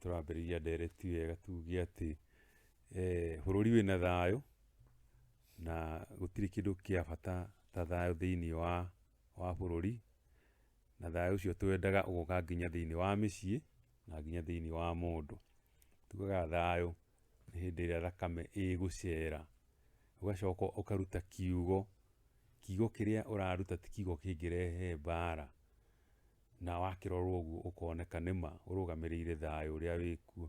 tũrambĩrĩria ndereti wega tuge atĩ eh, bũrũri wĩna thayũ na gũtirĩ kĩndũ kĩa bata ta thayũ thĩinĩ wa wa bũrũri na thayũ ũcio twendaga ũgoka nginya thĩinĩ wa mĩciĩ na nginya thĩinĩ wa mũndũ. Tugaga thayũ nĩ hĩndĩ ĩrĩa thakame ĩgũcera ũgacoka ũkaruta kiugo, kiugo kĩrĩa ũraruta ti kiugo kĩngĩrehe mbara na wakĩrorwo ũguo ũkoneka nĩma ũrũgamĩrĩire thayũ ũrĩa wĩkuo.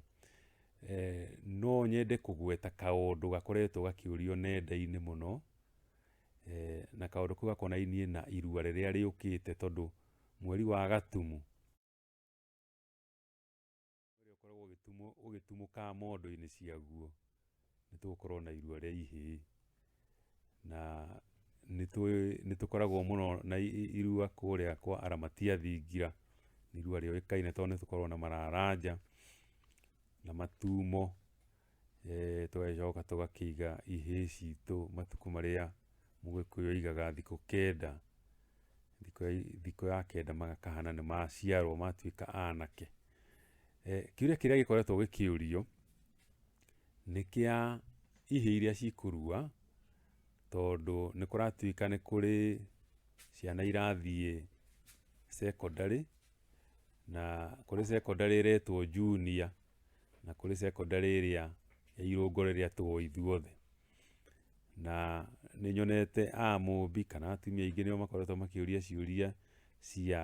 No nyende kũgweta kaũndũ gakoretwo gakĩũrio nenda-inĩ mũno. Eh, na kaundu kau gakonainie na irua riria riukite tondu mweri wa gatumu uria ukoragwo ugitumo ugitumuka mondo-ini ciaguo nitugukorwo na irua ria ihii na nitukoragwo muno na irua kuria kwa aramatia thingira ni irua riuikaine tondu nitukoragwo na mararanja na matumo Eh, tũgagĩcoka tũgakĩiga ihĩĩ citũ matukũ marĩa mũgĩkũyũ aigaga thikũ kenda thikũ ya, thikũ ya kenda magakahana nĩ maciarwo matuĩka anake eh, kĩũria kĩrĩa gĩkoretwo gĩkĩũrio nĩ kĩa ihĩĩ iria cikũrua tondũ nĩ kũratuĩka nĩ kũrĩ ciana irathiĩ secondary na kũrĩ secondary ĩretwo junior na kũrĩ secondary ĩrĩa ya irũngo rĩrĩa tũũ ithuothe. Na nĩ nyonete a mũmbi kana atumia aingĩ nĩo makoretwo makĩũria ciũria cia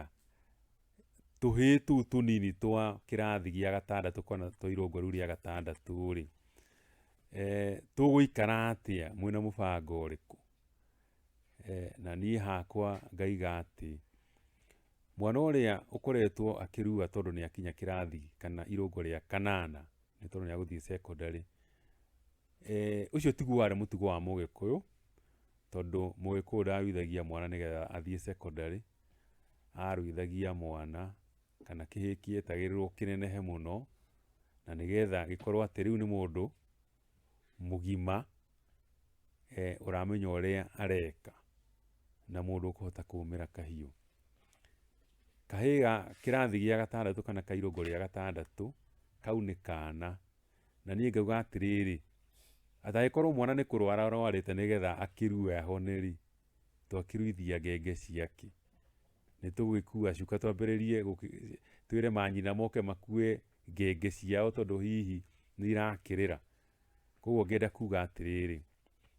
tũhĩĩ tũu tũnini twa kĩrathi gĩa gatandatũ kana twa irũngo rĩu rĩa gatandatũ rĩ, tũgũikara atĩa mwĩna mũbango ũrĩkũ? na niĩ hakwa ngaiga atĩ mwana ũrĩa ũkoretwo akĩrua tondũ nĩ akinya kĩrathi kana irũngo rĩa kanana nĩ tondũ nĩ agũthiĩ secondary, ũcio tiguo warĩ mũtugo wa mũgĩkũyũ tondũ mũgĩkũyũ ndaruithagia mwana nĩgetha athiĩ secondary, aruithagia mwana kana kĩhĩĩ kĩetagĩrĩrwo kĩnenehe mũno na nĩgetha gĩkorwo atĩ rĩu nĩ mũndũ mũgima ũramenya ũrĩa areka na mũndũ ũkũhota kũmĩra kahiũ. Kahĩĩ ga kĩrathi gĩa gatandatũ kana kairũngũ rĩa gatandatũ, kau nĩ kana, na niĩ ngauga atĩrĩrĩ, ati angĩkorwo mwana nĩ kũrwara arwarĩte nĩgetha akĩrue ahone rĩ, twakĩruithia ngenge ciake. Nĩ tũgũgĩkua cuka twambĩrĩrie twĩre manyina moke makue. ngenge ciao tondũ hihi nĩ irakĩrĩra. Koguo ngenda kuga atĩrĩrĩ,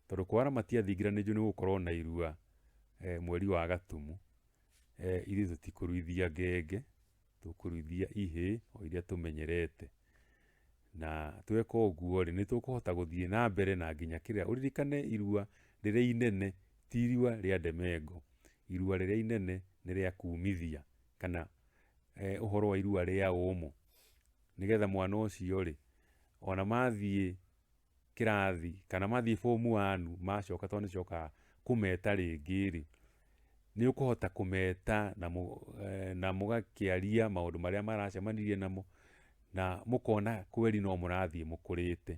tondũ kwara matiathingiranĩirio nĩ gũkorwo na irua eh, mweri wa gatumu eh, ithuĩ tũtikũruithia ngenge tũkũruithia ihĩ o iria tũmenyerete na tweka ũguo rĩ nĩ tũkũhota gũthiĩ na mbere na nginya kĩrĩa ũririkane irua rĩrĩa inene ti irua rĩa ndemengo irua rĩrĩa inene nĩ rĩa kumithia kana eh, ũhoro wa irua rĩa ũmũ nĩgetha mwana ũcio rĩ ona mathiĩ kĩrathi kana mathiĩ bomu wanu macoka tondũ nĩ cokaga kũmeta rĩngĩ rĩ nĩ ũkũhota kũmeta na, mũ, eh, na mũgakĩaria maũndũ marĩa maracemanirie namo na mũkona kweli no mũrathiĩ mũkũrĩte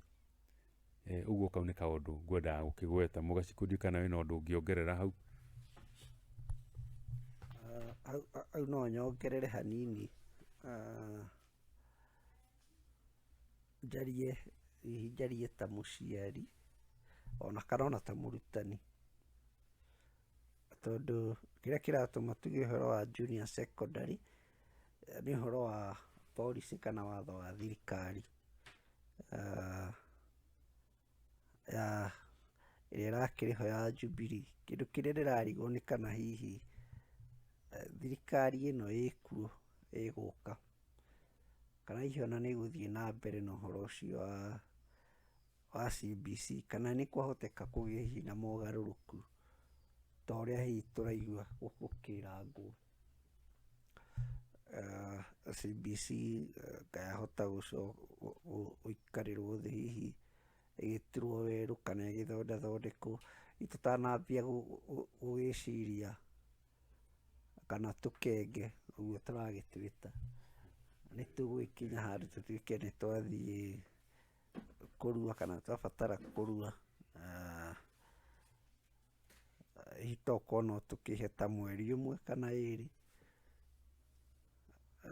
Eh, ũguo kau nĩ kaũndũ ngwendaga gũkĩgweta mũgaci kũnjũĩ kana wĩna ũndũ ũngĩongerera hau Ah, au- au- au no nyongerere hanini Ah, njarie hihi njarie ta mũciari ona kana ona ta mũrutani tondũ kĩrĩa kĩratũma tuge ũhoro wa junior secondary Nĩ ũhoro wa policy kana watho wa thirikari ah, ya ĩrĩa ĩrakĩrĩ ho ya Jubilee. Kĩndũ kĩrĩa ndĩrarigwo nĩ kana hihi eh, thirikari ĩno ĩkuo ĩgũka kana hihi ona nĩ ĩgũthiĩ na mbere na ũhoro ũcio wa wa CBC kana nĩ kwahoteka kũgĩe hihi na mogarũrũku ta ũrĩa hihi tũraigua gũkĩrangwo. CBC ndayahota gũikarĩrwo thĩ hihi ĩgĩturwo werũ kana ĩgĩthondathondekwo. Hihi tũtanambia gũgĩciria kana tũkenge ũguo tũragĩtwĩta, nĩ tũgũgĩkinya handũ tũtuĩke nĩ twathiĩ kũrua kana twabatara kũrua. hihi tokorwo no tũkĩhe ta mweri ũmwe kana ĩrĩ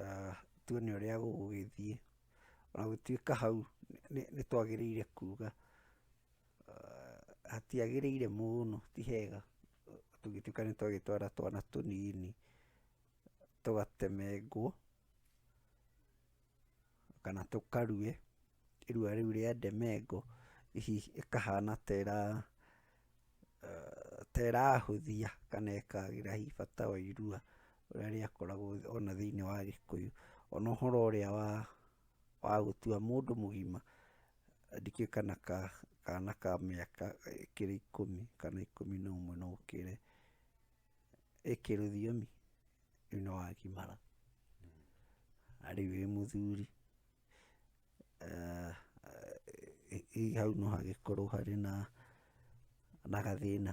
ah, tuone ũrĩa gũgũgĩthiĩ ona gũtuĩka hau nĩ twagĩrĩire kuga ah, hatiagĩrĩire mũno ti hega tũngĩtuĩka nĩ twagĩtwara twana tũnini tũgatemengwo kana tũkarue, irua rĩu rĩa ndemengo, hihi ĩkahana ta ĩra ta ĩrahũthia kana ĩkagĩra hihi bata wa irua ũrĩa rĩakoragwo ona thĩiniĩ wa Gĩkũyũ. Ona ũhoro ũrĩa wa wa gũtua mũndũ mũgima, ndikĩũĩ kana kana ka mĩaka ĩkĩrĩ ikũmi kana ikũmi na ũmwe na ũkĩrĩ. ĩkĩrũthiomi rĩu nĩ wakimara na rĩu wĩ mũthuri eh, eh, hau no hagĩkorwo harĩ na na gathĩna